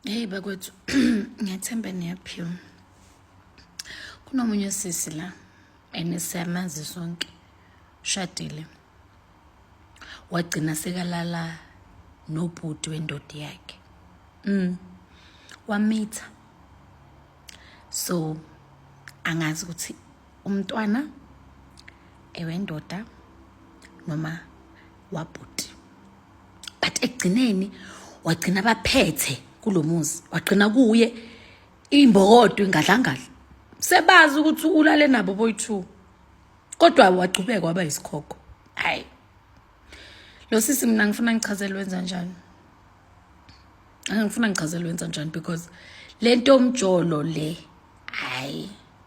Hey bakwethu ngiyathemba niyaphiwa. Kunomunye sisi la enisiyamazi sonke shadile wagcina sekalala nobhuti wendoda yakhe mm wamitha so angazi ukuthi umntwana ewendoda noma wabhuti but ekugcineni wagcina baphethe kulomuzi wagcina kuye imbokodo ingadlangadla sebazi ukuthi ulale nabo boyithu kodwa wagcubeka waba yisikhokho hayi lo sisi mina ngifuna ngichazele wenza njani angifuna ngichazele wenza njani because lento omjolo le hayi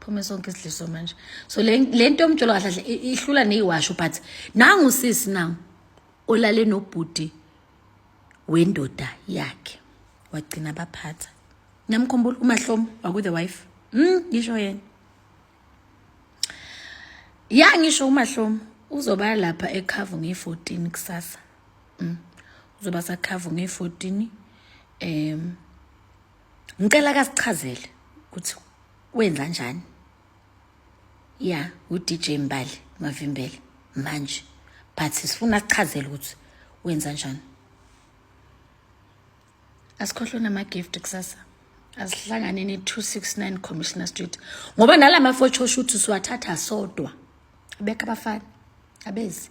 phume sonke isidliso manje so le nto yomjolo kahle kahle ihlula neyiwasho but nangu usisi nangu olale nobhuti wendoda yakhe wagcina baphatha niyamkhumbula umahlomo waku-the wife mm ngisho yena ya ngisho umahlomo uzoba lapha ekhavu ngeyi-14 kusasa mm uzoba sakhavu ngeyi-14 um ngicela kasichazele ukuthi wenza njani ya uDJ Mbali mavimbele manje but sifuna sichazele ukuthi wenza njani asikhohlwe nama-gift kusasa asihlangane ne-269 commissioner street ngoba nala mafotho shuthi siwathatha sodwa abekho abafana abezi